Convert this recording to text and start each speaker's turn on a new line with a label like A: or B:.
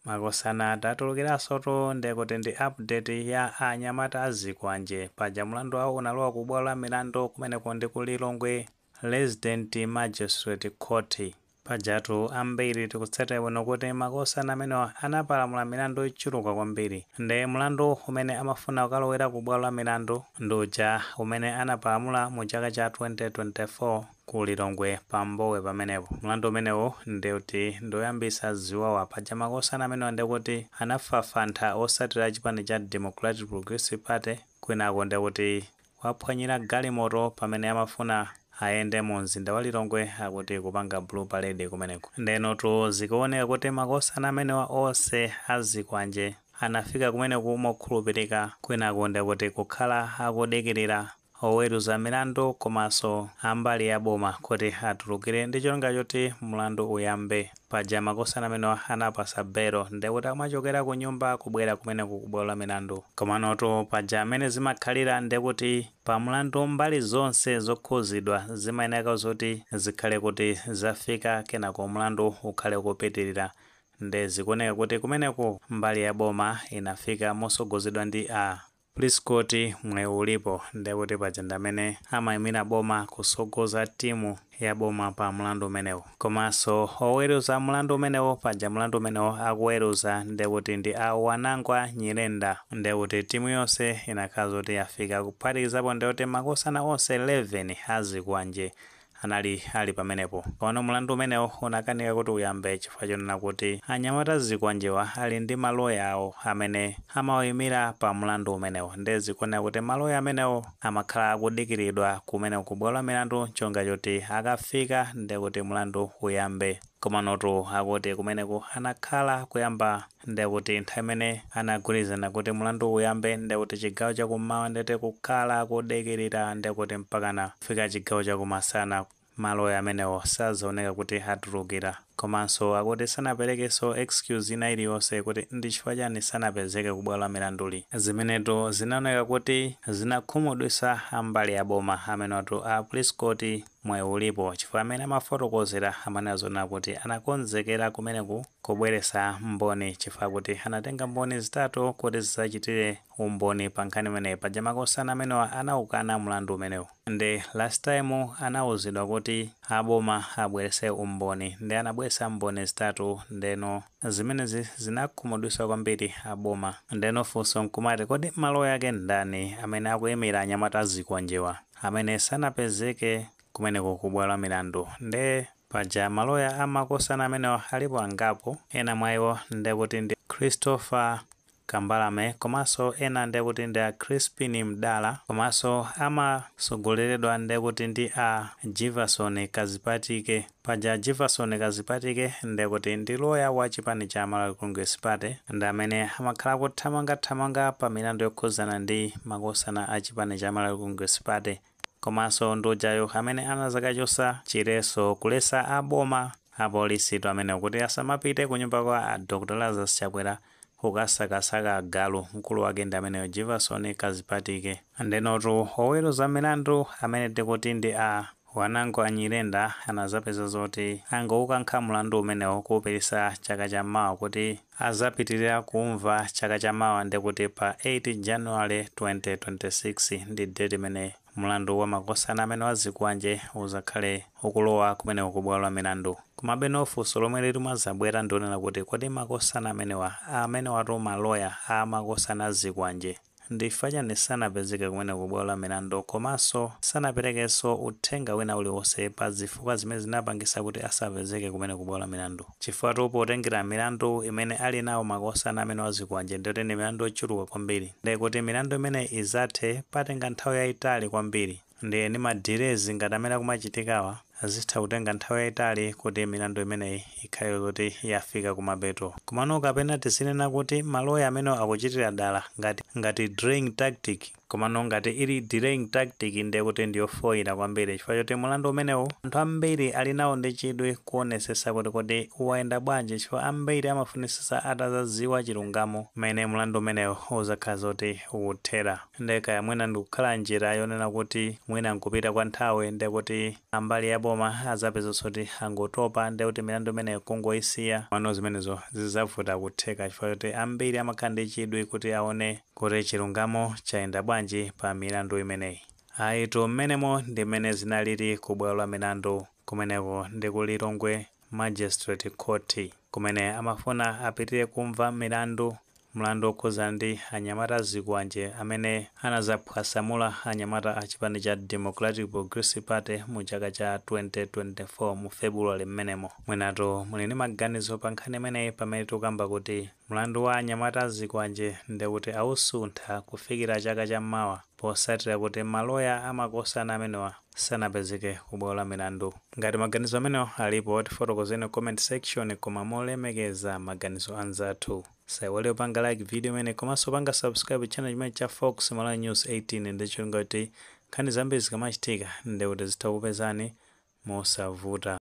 A: Makosana tatulukiransotu nde kuti ndi update ya a nyamata a zikwanje paja mulandu wawo unalowa ku bwalo la milandu kumeneko ndi ku Lilongwe Resident Magistrate Court. Pajatu ambiri tikutsatira bwino kuti makosana amenewa anapalamula milandu yochuluka kwambiri nde mulandu umene amafuna kukalowera ku bwalo la milandu ndi uja umene anapalamula mu chaka cha 2024. ku Lilongwe pa Mbowe pamenepo. Mlandu umenewo nde kuti ndi oyambitsa ziwawa. Paja makosana amenewa nde kuti anafafantha otsatira chipani cha Democratic Progressive Party kwinako nde kuti kuwaphwanyira galimoto pamene amafuna ayende mu mzinda wa Lilongwe akuti kupanga Blue Parade kumeneko. Ndenotu zikuoneka kuti makosana amenewa onse a zikwanje anafika kumeneku mokhulupirika kwinako nde kuti kukhala akudikirira oweruza milandu komanso ambali ya boma kuti atulukire ndi cholinga choti mlandu uyambe. Paja makosana amenewa anawapasa belo ndekuti amachokera kunyumba kubwera kumeneku ku bwalo la milandu. Komanotu paja mmene zimakhalira ndekuti pa mlandu mbali zonse zokhuzidwa zimayeneka zoti zikhale kuti zafika kenako mlandu ukhale ukupitilira nde zikuoneka kuti kumeneku mbali ya boma inafika mosogozedwa ndi a. Prescott Mwayiulipo nde kuti paja ndamene amayimira boma kusogoza team ya boma pa mlandu umenewu komanso oweluza mlandu umenewu paja mlandu umenewu akuweluza nde kuti ndi a Wanangwa Nyirenda nde kuti team yonse inakhala zoti yafika kuphatikizapo nde kuti makosana onse 11 azikwanje anali ali pamenepo. Komano mlandu umenewo unakanika kuti uyambe chifukwa chonena kuti anyamata a zikwanjewa ali ndi maloya awo amene amawaimira pa mlandu umenewo ndiye zikuoneka kuti maloya amenewo amakhala akudikiridwa kumeneko ku bwalo la milandu n'cholinga choti akafika ndiye kuti mlandu uyambe. Komanotu akuti kumeneko anakhala kuyamba nde kuti nthawi imene anagwirizana kuti mlandu uyambe nde kuti chigawo cha kummawa nde kuti kukhala kudikirira nde kuti mpakana kufika chigawo cha kumasana maloya amenewo sazaoneka kuti atulukira. Komanso akuti sanaperekenso excuse ina iliyonse kuti ndi chifukwa chani sanapezeke ku bwalo la milanduli. Zimenetu zinaoneka kuti zinakhumudwitsa a mbali ya boma amenewatu a Prescott Mwayiulipo chifukwa amene amafotokozera amanena zonena kuti anakonzekera kumeneku kubweretsa mboni chifukwa kuti anatenga mboni zitatu kuti zidzachitire umboni pa nkhani imeneyi. Paja makosana amenewa anaukana mlandu umenewu nde last time anauzidwa kuti a boma abweretse umboni nde anabweretsa mboni zitatu ndeno zimenezi zinakhumudwitsa kwambiri a boma. Ndeno funso nkumati kodi maloya ake ndani amene akuimira anyamata azikwanje wa? amene sanapezeke kumeneko ku bwalo la milandu nde paja maloya a makosana amenewa alipo angapo ena mwa iwo ndekuti ndi Christopher Kambalame komanso ena ndekuti ndi a Chrispine Mdala komanso amatsogoleredwa ndekuti ndi a Jivason Kazipatike. Paja Jivason Kazipatike ndekuti ndi loya wa chipani cha Malawi Congress Party ndi amene amakhala akuthamanga thamanga pa milandu yokhuzana ndi makosana a chipani cha Malawi Congress Party komaso ndi ujayu amene anazakachosa chiletso kuletsa a boma apolisitu amenewo kuti asamapite kunyumba kwa a Dr Lazarus Chakwera kukasakasaka agalu mkulu wake ndi ameneyo jivason kazipatike ndenotu oweruza milandu amene tikuti ndi a wanangwa nyirenda anazapeza zoti angoukankha mlandu umenewo kuupititsa chaka cha mawa kuti azapitirira kumva chaka cha mawa ndekuti pa 8 january 2026 ndi date imene Mlandu wa makosana amenewa azikwanje uzakhale ukulowa kumeneko ku bwalo la milandu. Komabeno funso lomwe likumazabwera ndi lonena kuti kodi makosana amenewa amenewatu ma loya a makosana a zikwanje ndi chifukwa chani sanapezeke kumeneko ku bwalo la milandu komanso sanaperekenso uthenga wina uliwonse pa zifukwa zimene zinapangisa kuti asapezeke kumeneko ku bwalo la milandu? Chifukwatu potengera milandu imene ali nawo makosana amenewa azikwanje ndi oti ndi milandu yochuluka kwambiri nde kuti milandu imeneyi izathe patenga nthawi yayitali kwambiri ndiye ndi ma delays ngati amene akumachitikawa zitha kutenga nthawi yayitali kuti milandu imeneyi ikhale zoti yafika kumapeto komano kapena tizinena kuti ma lawyer amenewa akuchitira dala ngati delaying tactic Komano ngati ili delaying tactic ndiye kuti ndiyofoila kwambiri chifukwa choti mulandu umenewu anthu ambiri ali nawo ndi chidwi kuonesesa kuti kodi wayenda bwanji chifukwa ambiri amafunisisa atazaziwa chilungamo mmene mulandu umenewu uzakhala zoti ukuthera. Nde kaya mwina itha kukhala njira yonena kuti mwina nkupita kwa nthawi nde kuti ambali ya boma azapezeso kuti angotopa nde kuti milandu imeneyo kungoyisiya, komano zimenezo zizavuta kutheka chifukwa choti ambiri amakhala ndi chidwi kuti aone Kuti chilungamo chayenda bwanji pa milandu imeneyi? Ayitu, mmenemo ndi mmene zinalili ku bwalo la milandu. Kumeneko ndi ku Lilongwe Magistrate Court, kumene amafuna apitire kumva milandu, mlandu wokhudza ndi anyamata azikwanje amene anadzaphwasamula anyamata a chipani cha Democratic Progressive Party mu chaka cha 2024 mu February mmenemo. Mwinatu muli ndi maganizo pa nkhani imeneyi pamene tikukamba kuti Mlandu wa anyamata a zikwanje nde kuti awusuntha kufikira chaka cha mawa potsatira kuti ma loya a makosana amenewa sanapezeke ku bwalo la milandu. Ngati maganizo amenewa alipo tifotokozeni ku comment section koma molemekeza maganizo anzathu. Usaiwale kupanga like video imeneyi komanso kupanga subscribe channel chimenechi cha Fox Malawi News 18 ndi cholinga choti nkhani zambiri zikamachitika nde kuti zitha kukupezani mosavuta.